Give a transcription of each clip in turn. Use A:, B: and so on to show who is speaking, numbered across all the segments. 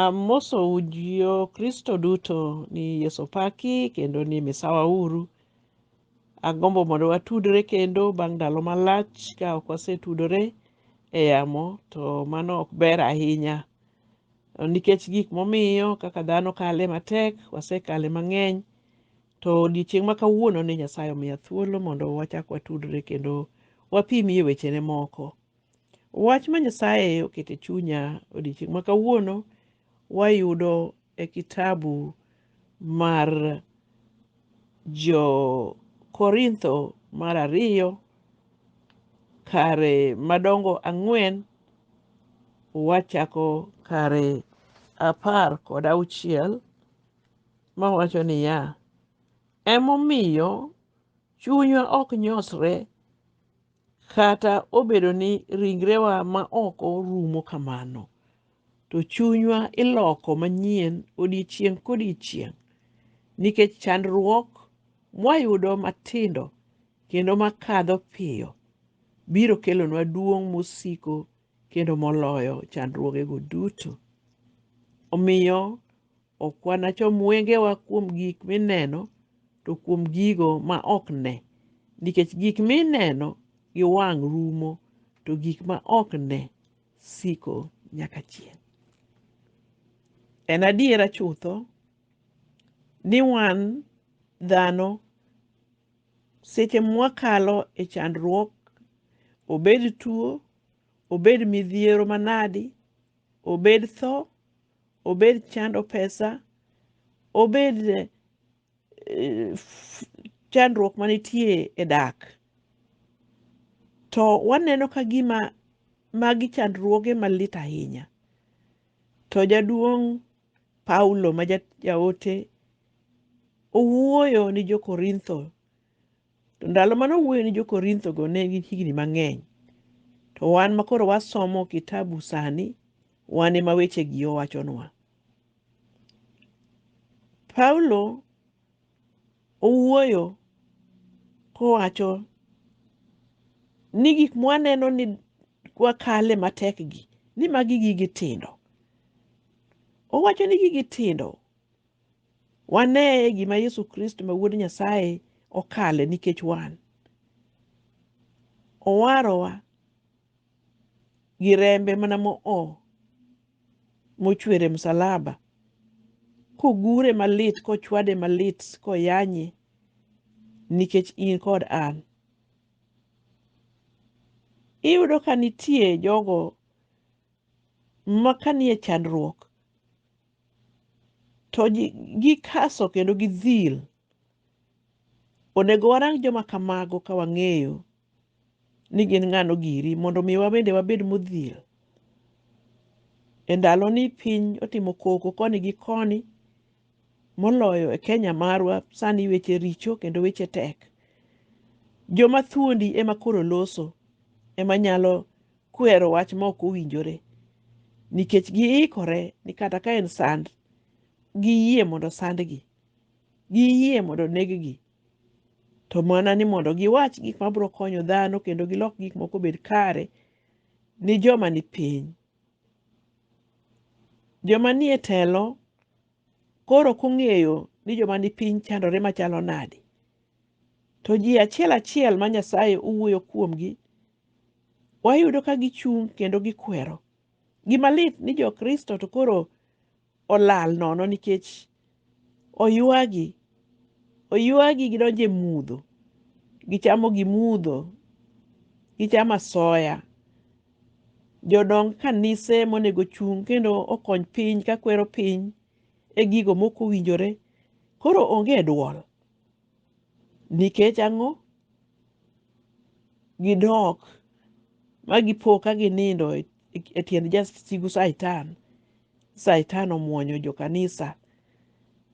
A: Amosou jo Kristo duto ni Yesu paki kendo ni misawa uru. Agombo mondo watudre kendo bang' ndalo malach ka ok wasetudore e yamo to mano ok ber ahinya nikech gik momiyo kaka dhano kale matek wasekale mang'eny to odiechieng' ma kawuono ni Nyasaye omiya thuolo mondo wachak watudre kendo wapimie wechene moko. Wach ma Nyasaye oketo e chunya odiechieng' ma kawuono wayudo e kitabu mar Jo-Korintho mar ariyo kare madongo ang'wen wachako kare apar kod auchiel mawacho niya, Emomiyo chunywa ok nyosre Kata obedo ni ringrewa ma oko rumo kamano, to chunywa iloko manyien odiechieng' kodiechieng' nikech chandruok mwayudo matindo kendo makadho piyo biro kelonwa duong' mosiko kendo moloyo chandruogego duto. Omiyo, Ok wanachom wengewa kuom gik mineno, to kuom gigo ma ok ne, nikech gik mineno gi wang' rumo, to gik ma ok ne siko nyaka chieng'. En adiera chutho ni wan dhano seche mwakalo e chandruok, obed tuo, obed midhiero manadi, obed tho, obed chando pesa, obed eh, f- chandruok manitie e dak. To waneno ka gima magi chandruoge malit ahinya. To jaduong' Paulo ma ja- jaote owuoyo ni jo-Korintho To ndalo mane owuoyo ni jo-Korinthogo ne en gi higni mang'eny. To wan ma koro wasomo kitabu sani, wan ema wechegi owachonwa. Paulo owuoyo kowacho ni gik mwaneno ni wakale matekgi, ni magi gigi tindo. Owacho ni gigi tindo Wane gima Yesu Kristo ma Wuod Nyasaye okale nikech wan. Owarowa gi rembe mana mo'o mochwere msalaba, kogure malit, kochwade malit, koyanye nikech in kod an. Iyudo ka nitie jogo ma kanie chandruok to gikaso kendo gidhil. Onego warang joma kamago ka wang'eyo ni gin ng'ano giri mondo mi wabende wabed modhil. E ndaloni piny otimo koko koni gi koni moloyo e Kenya marwa sani weche richo kendo weche tek. Joma thuondi ema koro loso ema nyalo kwero wach ma ok owinjore nikech giikore ni kata ka en sand giyie mondo sandgi giyie mondo neggi to mana ni mondo giwach gik ma biro konyo dhano kendo gilok gik moko obed kare ni joma ni piny joma nie telo koro kong'eyo ni joma ni piny chandore machalo nade to ji achiel achiel ma nyasaye owuoyo kuomgi wayudo ka gichung' kendo gikwero. Gima lit ni jo-Kristo to koro olal nono nikech oywagi. Oywagi gidonjo e mudho. Gichamo gimudho. Gichamo asoya. Jodong kanise monego ochung' kendo okony piny kakwero piny e gigo mok owinjore koro onge dwol. Nikech ang'o? Gidok ma gipo ka ginindo e e tiend jasigu Satan. Satan omwonyo jokanisa.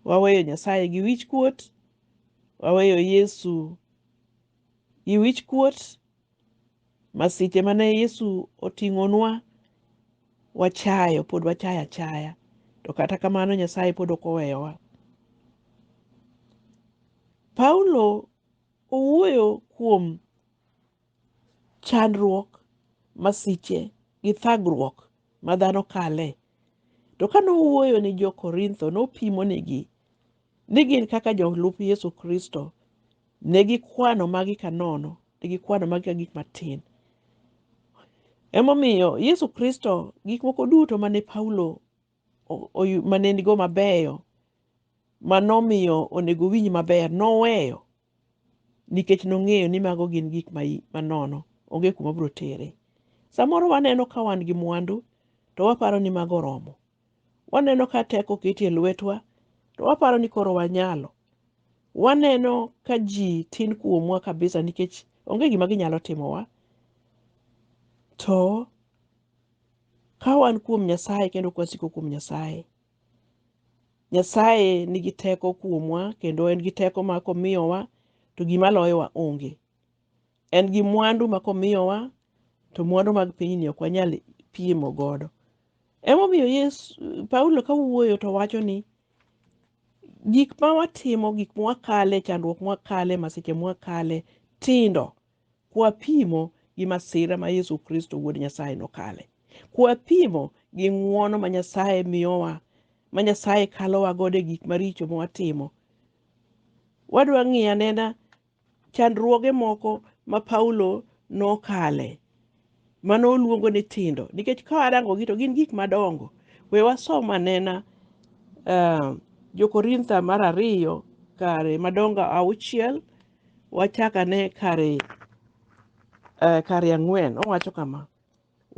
A: Waweyo Nyasaye gi wichkuot, waweyo Yesu gi wichkuot, Masiche ma ne Yesu oting'onwa wachayo, pod wachayo achaya. To kata kamano Nyasaye pod ok oweyowa. Paulo owuoyo kuom chandruok, masiche gi thagruok ma dhano kale. To ka nowuoyo ni jo-Korintho, nopimonigi ni gin kaka jolup Yesu Kristo Ne gikwano magi ka nono, ne gikwano magi ka gik matin. Emomiyo Yesu Kristo, gik moko duto mane Paulo o- oyu- mane nigo mabeyo, manomiyo onego owinj maber, noweyo nikech nong'eyo ni mago gin gik ma i- manono, onge kuma biro tere. Samoro waneno ka wan gi mwandu, to waparo ni mago oromo. Waneno ka teko oketi e lwetwa, to waparo ni koro wanyalo. Waneno ka ji tin kuomwa kabisa nikech onge gima ginyalo timowa. To ka wan kuom Nyasaye kendo kwasiko kuom Nyasaye, Nyasaye nigi teko kuomwa kendo en gi teko ma komiyowa to gima loyowa onge. En gi mwandu ma komiyowa to mwandu mag pinyni ok wanyal pimo godo. Emomiyo Yesu, Paulo ka wuoyo to wacho ni gik ma watimo, gik ma wakale, chandruok ma wakale, masiche ma wakale tindo kwapimo gi masira ma Yesu Kristo Wuod Nyasaye nokale. Kwapimo gi ng'wono ma Nyasaye miyowa, ma Nyasaye kalowa godo e gik maricho ma watimo. Wadwa ng'iyo anena chandruoge moko ma Paulo nokale mane oluongo ni tindo nikech ka warangogi to gin gik madongo. We wasom anena uh, Jokorintho mar ariyo kare madongo auchiel wachak ane kare uh, kare ang'wen owacho kama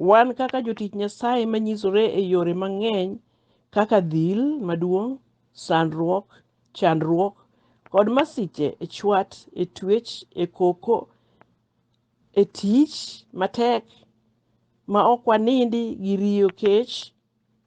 A: Wan kaka jotich Nyasaye ma nyisore e yore mang'eny kaka dhil maduong', sandruok, chandruok, kod masiche e chwat, e twech, e koko, e tich matek ma ok wanindi gi riyo kech,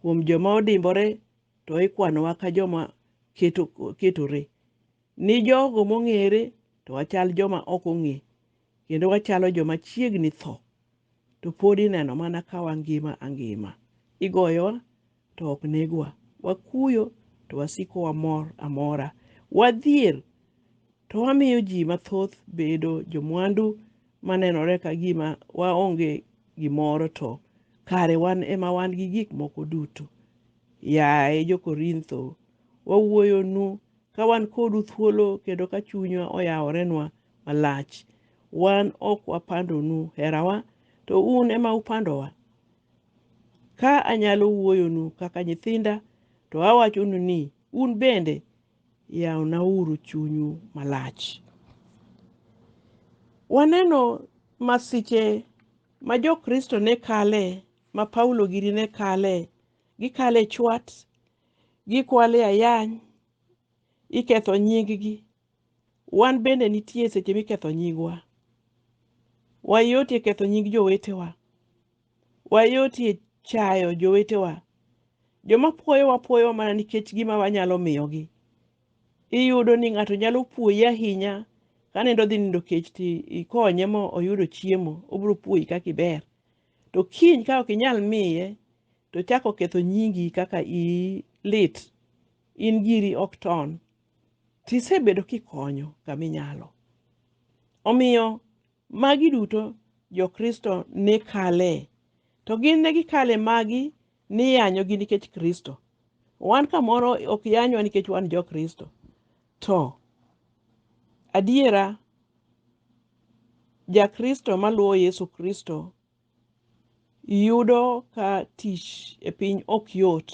A: Kuom joma odimbore to ikwanowa ka joma keto, ketore. Ni jogo mong'ere to wachal joma ok ong'e, kendo wachalo joma chiegni tho, to pod ineno mana ka wangima angima. Igoyowa to ok negwa, wakuyo to wasiko wamor amora, wadhier to wamiyo ji mathoth bedo jomwandu manenore ka gima waonge gimoro to kare wan ema wan gi gik moko duto. Yaye jo-Korintho, wawuoyonu ka wan kodu thuolo kendo ka chunywa oyaworenwa malach. Wan ok wapandonu herawa, to un ema upandowa. Ka anyalo wuoyonu kaka nyithinda, to awachonu ni un bende yawnauru chunyu malach. Waneno masiche ma Jokristo ne kale, ma Paulo gini ne kale, gikale chwat, gikwale ayany, iketho nyinggi. Wan bende nitie seche miketho nyingwa. Wayotie ketho nying jowetewa. Wayotie chayo jowetewa. Joma pwoyowa pwoyowa mana nikech gima wanyalo miyogi. Iyudo ni ng'ato nyalo pwoyi ahinya ka nindo dhi nindo kech to ikonye ma oyudo chiemo, obiro pwoyi kaka iber. To kiny ka ok inyal miye to ochako oketho nyingi kaka iyi lit, in giri ok ton, to isebedo kikonyo kama inyalo. Omiyo Magi duto jo-Kristo ne kale. To gin ne gikale magi niyanyogi nikech Kristo. Wan kamoro ok yanywa nikech wan jo-Kristo. To adiera ja-Kristo maluwo Yesu Kristo Iyudo ka tich e piny ok yot,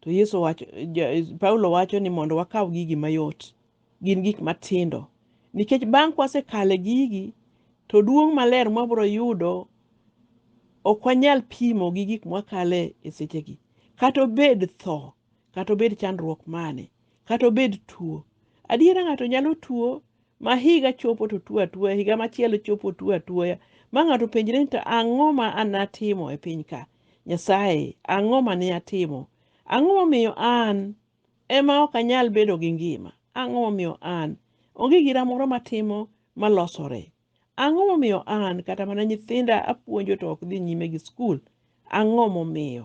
A: to Yesu owacho, Ja- Paulo wacho ni mondo wakaw gigi mayot. Gin gik matindo. Nikech bang' kwasekale gigi, to duong' maler mwabiro yudo ok wanyal pimo gi gik mwakale e sechegi. Kata obed tho, kata obed chandruok mane, kata obed tuo. Adiera ng'ato nyalo tuo ma higa chopo to tuo atuoya higa machielo chopo tuo atuoya ma ng'ato penjre ni to ang'o ma an atimo e piny ka nyasaye ang'o ma ne atimo ang'o momiyo an ema ok anyal bedo gi ngima ang'o momiyo an onge gira moro matimo malosore ang'o momiyo an kata mana nyithinda apuonjo to ok dhi nyime gi skul ang'o momiyo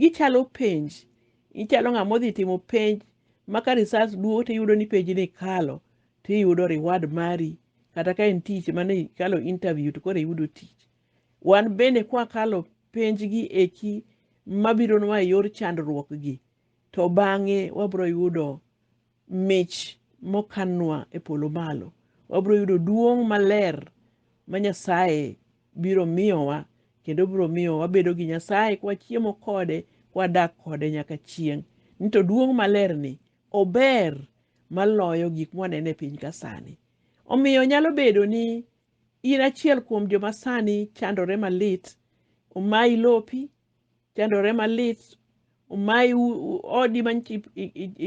A: Gichalo penj. Ichalo ng'ama odhi timo penj ma ka results duogo to iyudo ni penj ni kalo to iyudo reward mari kata ka en tich mane ikalo interview to koro iyudo tich. Wan bende kwakalo penj gi eki mabironwa e yor chandruok gi to bang'e wabiro yudo mich mokannwa e polo malo. Wabiro yudo duong' maler ma Nyasaye biro miyowa kendo biro miyo wabedo gi Nyasaye kwa chiemo kode kwa dak kode nyaka chieng'. Ni to duong' maler ni ober maloyo gik mwanene piny ka sani. Omiyo nyalo bedo ni in achiel kuom joma sani chandore malit, omayi lopi, chandore malit omayi odi manyicha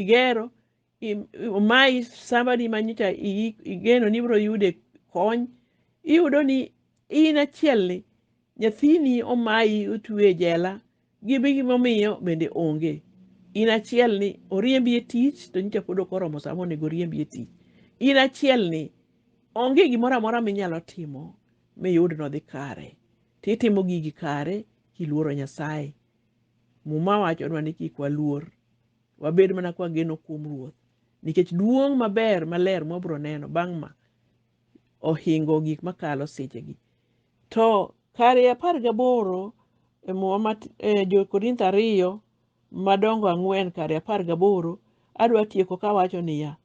A: igero omayi sambadi manyicha igeno ni ibiro yude kony iyudo ni in achielni nyathini omayi otwe e jela gibi gimomiyo bende onge in achiel ni oriembi e tich to nyicha pod ok oromo sama onego oriembi e tich in achiel ni onge gimoro amora minyalo timo miyud nodhi kare titimo gigi kare kiluoro Nyasaye. Muma wachonwa ni kik waluor, wabed mana kwageno kuom Ruoth, nikech duong' maber maler mwabiro neno bang' ma ohingo gik makalo sechegi. To kare apar gaboro e Muma ma e Jo-Korintho ariyo madongo ang'wen kare apar gaboro, adwa tieko kawacho niya,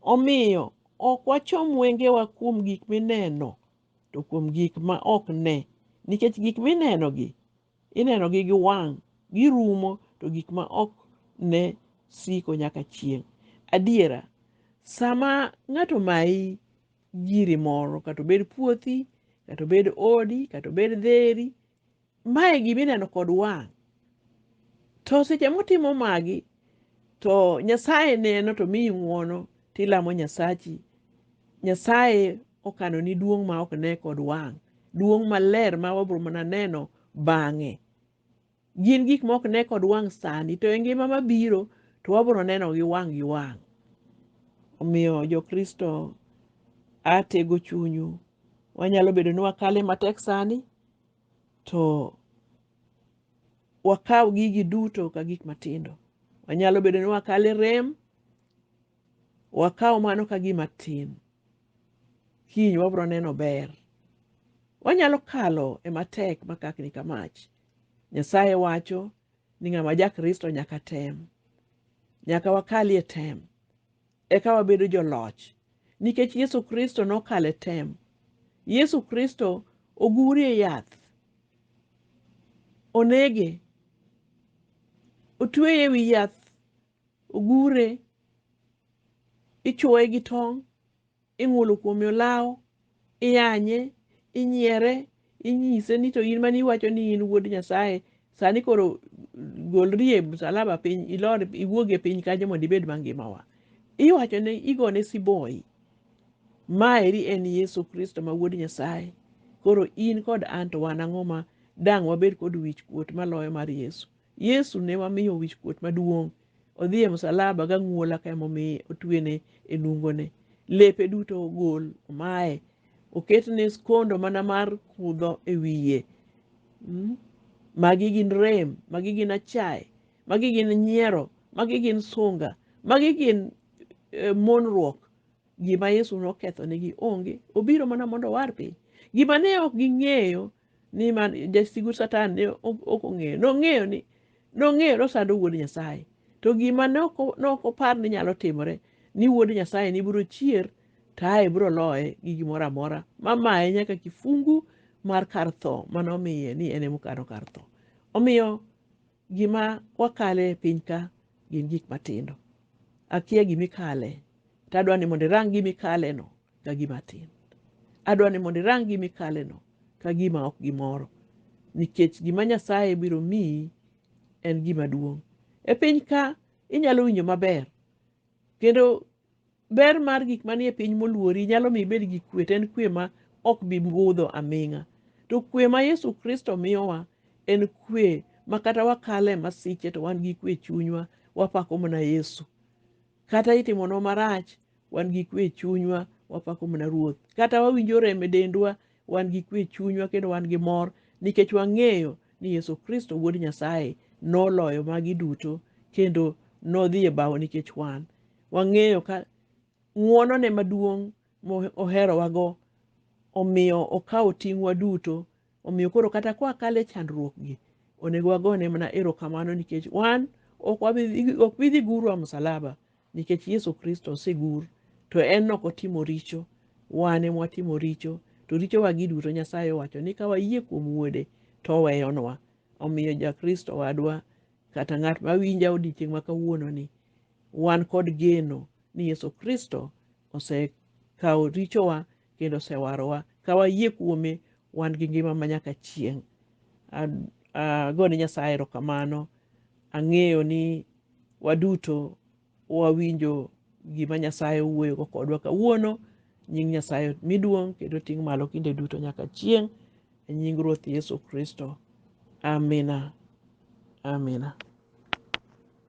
A: Omiyo, ok wachom wengewa kuom gik mineno to kuom gik ma ok ne, nikech gik minenogi inenogi gi wang' girumo, to gik ma ok ne siko nyaka chieng'. Adiera, sama ng'ato mayi giri moro, kata obed puothi, kata obed odi, kata obed dheri, Mae gima ineno kod wang'. To seche mutimo magi, to Nyasaye neno to miyi ng'wono tilamo Nyasachi. Nyasaye okano ni duong' ma ok ne kod wang', duong' maler ma wabro mana neno bang'e. Gin gik ma ok ne kod wang' sani, to e ngima mabiro to wabro neno gi wang' gi wang'. Omiyo Jokristo, atego chunyu. Wanyalo bedo ni wakale matek sani, to wakaw gigi duto ka gik matindo. Wanyalo bedo ni wakale rem, wakaw mano ka gima tin. Kiny wabiro neno ber. Wanyalo kalo e matek makakni ka mach. Nyasaye wacho ni ng'ama ja Kristo nyaka tem. Nyaka wakalie tem. eka wabedo joloch. Nikech Yesu Kristo nokalo e tem, Yesu Kristo oguri e yath, onege, otweye e wi yath, ogure, ichuoye gi tong', ing'ulo kuome olawo, iyanye, inyiere, inyise ni to in mane iwacho ni in wuod Nyasaye, sani koro golri e msalaba piny, ilor iwuog e piny kanyo mondo ibed mangimawa. Iwachone, igone siboi. Ma eri en Yesu Kristo ma wuod Nyasaye. Koro in kod an to wan ang'o ma dang' wabed kod wich kuot maloyo mar Yesu? Yesu ne wamiyo wich kuot maduong'. odhi e msalaba gang'uola ka emomiye otwene e nungone lepe duto ogol omaye oketne skondo mana mar kudho e wiye Mm. magi gin rem magi gin achaye magi gin nyiero magi gin sunga magi gin eh, monruok gima yesu nokethonegi onge obiro mana mondo owar piny gima ne ok ging'eyo ni man jasigu satan ne ok ong'eyo nong'eyo ni nong'eyo nosando wuod nyasaye to gima ne ok opar ni nyalo timore ni wuod nyasaye ni biro chier taye biro loye gi gimoro amora mamaye nyaka kifungu mar kar tho manomiye ni en emokano kar tho omiyo Gima wakale e piny ka gin gik matindo. Akia gima ikale, to adwa ni mondo irang gima ikaleno ka gima tin. Adwa ni mondo irang gima ikaleno ka gima ok gimoro, nikech gima Nyasaye biro miyi en gima duong'. E piny ka inyalo winjo maber, kendo Ber mar gik manie piny moluori nyalo mi ibed gi kwe, to en kwe ma ok bi budho aming'a. To kwe ma Yesu Kristo miyowa en kwe ma kata wakale masiche to wan gi kwe chunywa, wapako mana Yesu. Kata itimonwa marach, wan gi kwe chunywa, wapako mana Ruoth. Kata wawinjo rem e dendwa, wan gi kwe chunywa kendo wan gi mor nikech wang'eyo ni Yesu Kristo Wuod Nyasaye noloyo magi duto kendo nodhi e bao nikech wan. wang'eyo ka ng'wonone maduong' moherowago omiyo okawo ting'wa duto omiyo koro kata kwa kale chandruokgi onego wagone mana erokamano nikech wan ok bidhi gurwa msalaba nikech yesu kristo osegur to en ok otimo richo wan ema watimo richo to richowagi duto nyasaye owacho ni ka wayie kuom wuode to oweyonwa omiyo jakristo wadwa kata ng'at mawinja odiechieng' ma kawuononi Wan kod geno ni Yesu Kristo osekawo richowa kendo osewarowa. Ka wayie kuome, wan gi ngima ma nyaka chieng'. Ago ne Nyasaye erokamano. Ang'eyo ni waduto wawinjo gima Nyasaye wuoyogo kodwa kawuono. Nying Nyasaye omi duong' kendo oting' malo kinde duto nyaka chieng'. E nying Ruoth Yesu Kristo, amina amina.